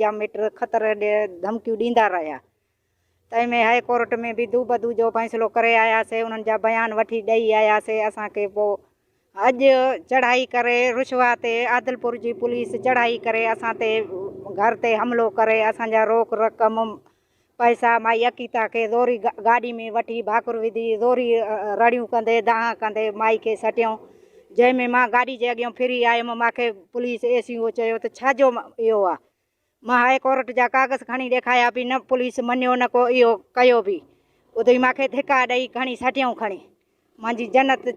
جا مٽ خطر ڏئي ڌمڪيون ڏيندا رهيا. تنهن ۾ هاء ڪورٽ ۾ به دوبدو جو فيصلو ڪري آياسين، انهن جا بيان وٺي ڏئي آياسين، اسان کي پوء اڄ چڙهائي ڪري رشوا تي عادلپور جي پوليس چڙهائي ڪري اسان تي گهر تي حملو ڪري اسان جا روڪ رقم پئسا مائي عقيتا کي زوري گاڏي ۾ وٺي ڀاڪر وڌي زوري رڙيون ڪندي دانهن ڪندي مائي کي سٽيائون جنهن ۾ مان گاڏي جي اڳيان ڦري آيم مان کي پوليس اي سي او چيو ته ڇا جو اهو آ مان هاء ڪورٽ جا ڪاغذ کڻي ڏيکايا پي نه پوليس مڃيو نه ڪو اهو ڪيو بي ادي مان کي ڌڪا ڏئي کڻي سٽيائون کڻي مانجي جنت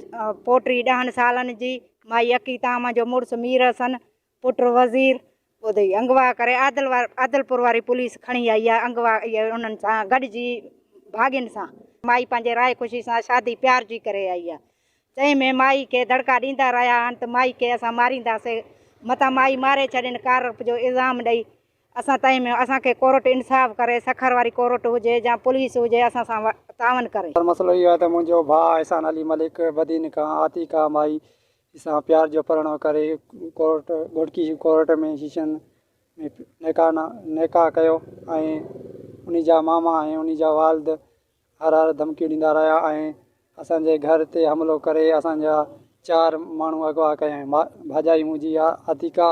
پوٽي ڏهن سالن جي مائي عقيتا مانجو مڙس مير حسن پٽ وزير ٻڌئي انگوا ڪري عادلپور واري پوليس کڻي آئي آهي انگوا انهن سان گڏجي ڀاڳين سان مائي پنهنجي راء خوشي سان شادي پيار جي ڪري آئي آهي چئي ۾ مائي کي دڙڪا ڏيندا رهيا آهن ته مائي کي اسان مارينداسي متان مائي ماري ڇڏين ڪارپ جو الزام ڏئي اسان تئي ۾ اسان کي ڪورٽ انصاف ڪري سکر واري ڪورٽ هجي يا پوليس هجي اسان سان تعاون ڪري. پر مسئلو اهو آهي ته منهنجو ڀاء احسان علي ملڪ بدين کان آتيڪا مائي سان پيار جو پرڻو ڪري ڪورٽ گهوٽڪي ڪورٽ ۾ شيشن ۾ نڪاح نا نڪاح ڪيو ۽ انهي جا ماما ۽ انهي جا والد هر هر ڌمڪيون ڏيندا رهيا ۽ اسان جي گهر تي حملو ڪري اسان جا چار ماڻهو اغوا ڪيائين ڀا ڀاڄائي منهنجي عتيقه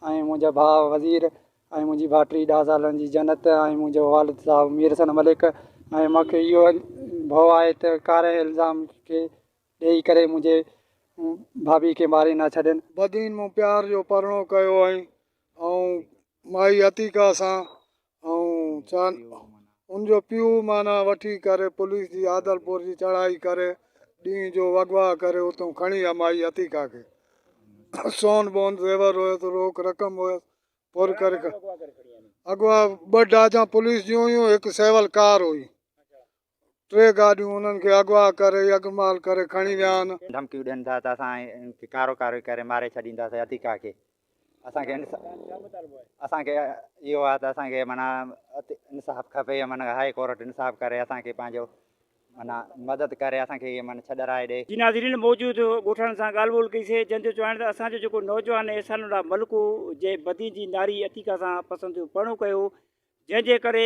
۽ منهنجا ڀاء وزير ۽ منهنجي ڀائٽي ڏهه سالن جي جنت ۽ منهنجو والد صاحب مير حسن ملڪ ۽ مون کي اهو ڀئو آهي ته ڪارنهن الزام کي ڏيئي ڪري منهنجي ڀاڀي کي ماري نه ڇڏين. بدين مون پيار جو پرڻو ڪيو هئائين ۽ مائي عتيقه سان ۽ ان جو پيء معنيٰ وٺي ڪري پوليس جي عادلپور جي چڙهائي ڪري ڏينهن جو اغوا ڪري اتون کڻي آيا مائي عتيقه کي سون بون زيور هيس روڪ رقم هيس پر ڪري اغوا ٻه ڊاجان پوليس جون هيون هڪ سيول ڪار هئي ٽي گاڏيون انهن کي اغوا ڪري يغمال ڪري کڻي ويا آهن. ڌمڪيون ڏين ٿا ته اسان کي ڪارو ڪارو ڪري ماري ڇڏينداسين عتيقا کي اسان کي اسان کي اهو آهي ته اسان کي معنيٰ انصاف کپي معنيٰ هاء ڪورٽ انصاف ڪري اسان کي پنهنجو معنيٰ مدد ڪري اسان کي معنيٰ ڇڏرائي ڏي. جي ناظرين موجود ڳوٺاڻن سان ڳالهه ٻولهه ڪئي سي جن جو چوڻ آهي ته اسان جو جيڪو نوجوان احسان الله ملڪ هو جنهن بدين جي ناري عتيقا سان پسنديو پرڻو ڪيو هو جنهن جي ڪري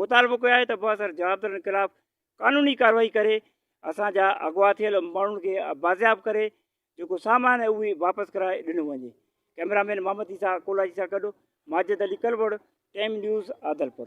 مطالبو ڪيو آهي ته بااثر جوابدارن خلاف قانوني ڪارروائي ڪري اسان جا اغوا ٿيل ماڻهن کي بازياب ڪري جيڪو سامان آهي اهي واپس ڪرائي ڏنو وڃي ڪئميرا مين محمد عيسيٰ ڪولاچي سان گڏ ماجد علي ڪلوڙ ٽائيم نيوز عادلپور